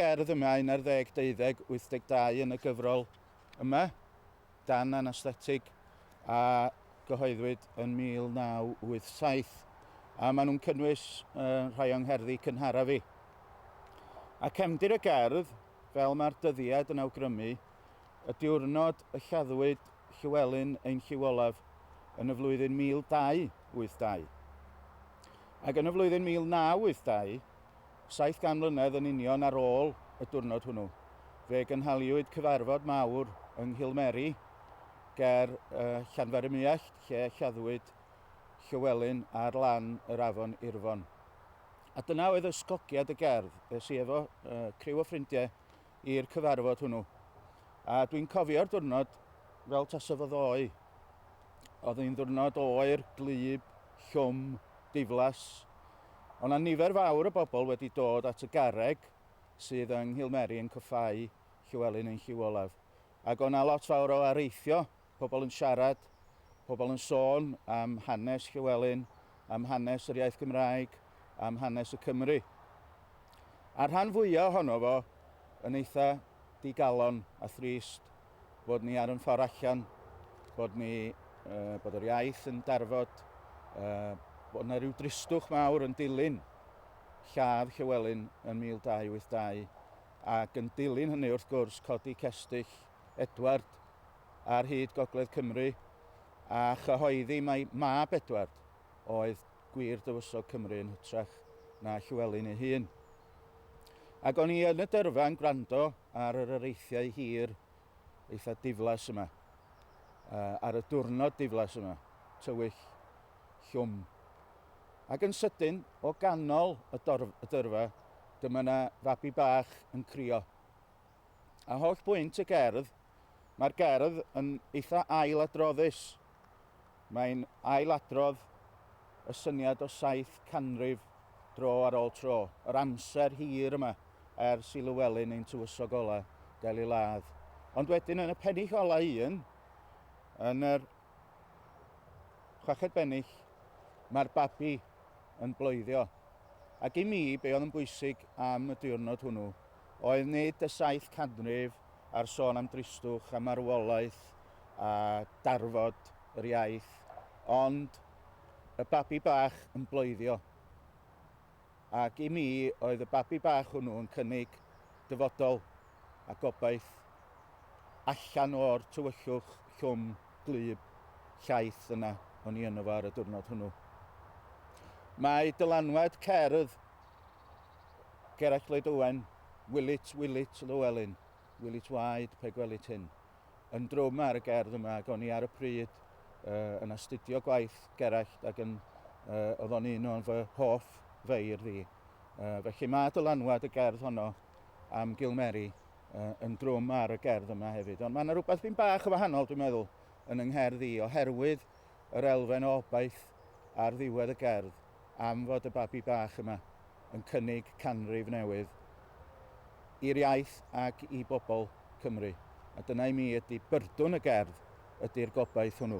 Gerdd y mae un ar ddeg deuddeg wyth deg dau yn y gyfrol yma, dan anaesthetig, a gyhoeddwyd yn 1987, a maen nhw'n cynnwys rhai o'n ngherddi cynharaf i. A cefndir y gerdd, fel mae'r dyddiad yn awgrymu, y diwrnod y lladdwyd Llywelyn ein Llyw Olaf yn y flwyddyn 1282. Ac yn y flwyddyn 1982, Saith gan mlynedd yn union ar ôl y diwrnod hwnnw, fe gynhaliwyd cyfarfod mawr yng Nghilmeri ger Llanfairymyllyallt lle lladdwyd Llywelyn ar lan yr afon Irfon. A dyna oedd ysgogiad y gerdd, es i efo criw o ffrindiau i'r cyfarfod hwnnw. A dwi'n cofio'r diwrnod fel tasa fo ddoe. Oedd hi'n ddiwrnod oer, glub, llwm, diflas. O' 'na nifer fawr o bobl wedi dod at y garreg sydd yng Nghilmeri yn cyffáu Llywelyn yn Lliw Olaf. Ac o' 'na lot fawr o areithio, pobl yn siarad, pobl yn sôn am hanes Llywelyn, am hanes yr iaith Gymraeg, am hanes y Cymry. A'r rhan fwya' ohono fo yn eitha' digalon a thrist. bod ni ar yn ffordd allan, bod ni, uh, bod yr iaith yn darfod, uh, bod yna rhyw dristwch mawr yn dilyn lladd Llywelyn yn 1282, ac yn dilyn hynny wrth gwrs codi cestyll Edward ar hyd Gogledd Cymru, a chyhoeddi mae mab Edward oedd gwir dywysog Cymru yn hytrach na Llywelyn ei hun. Ac o'n i yn y dyrfa yn gwrando ar yr areithiau hir eitha diflas yma. Uh, ar y diwrnod diflas yma, tywyll llwm. Ac yn sydyn, o ganol y, dorf, y dyrfa, dyma yna fabi bach yn crio. A holl bwynt y gerdd, mae'r gerdd yn eitha ail adroddus. Mae'n ailadrodd y syniad o saith canrif dro ar ôl tro, yr amser hir yma ers i Lywelyn ein tywysog ola' gael ei ladd. Ond wedyn yn y pennill ola' un, yn yr chweched bennill, mae'r babi yn bloeddio. Ac i mi, be' oedd yn bwysig am y diwrnod hwnnw oedd nid y saith canrif a'r sôn am dristwch a marwolaeth a darfod yr iaith, ond y babi bach yn bloeddio. Ac i mi oedd y babi bach hwnnw yn cynnig dyfodol a gobaith allan o'r tywyllwch llwm glub llaith yna o'n i yno fo ar y diwrnod hwnnw. Mae dylanwad cerdd Gerallt Lloyd Owen, Wilit, Wilit, Llewelyn, Wilit waed, pe gwelit hyn, yn drwm ar y gerdd yma ac o'n i ar y pryd uh, yn astudio gwaith Gerallt ac yn, uh, oedd o'n un o'n fy hoff feirdd i. Uh, felly mae dylanwad y gerdd honno am Gilmeri uh, yn drwm ar y gerdd yma hefyd. Ond mae yna rhywbeth byn bach o wahanol, dwi'n meddwl, yn yng ngherdd i, oherwydd yr elfen o obaith ar ddiwedd y gerdd. am fod y babi bach yma yn cynnig canrif newydd i'r iaith ac i bobl Cymru, a dyna i mi ydy byrdwn y gerdd, ydy'r gobaith hwnnw.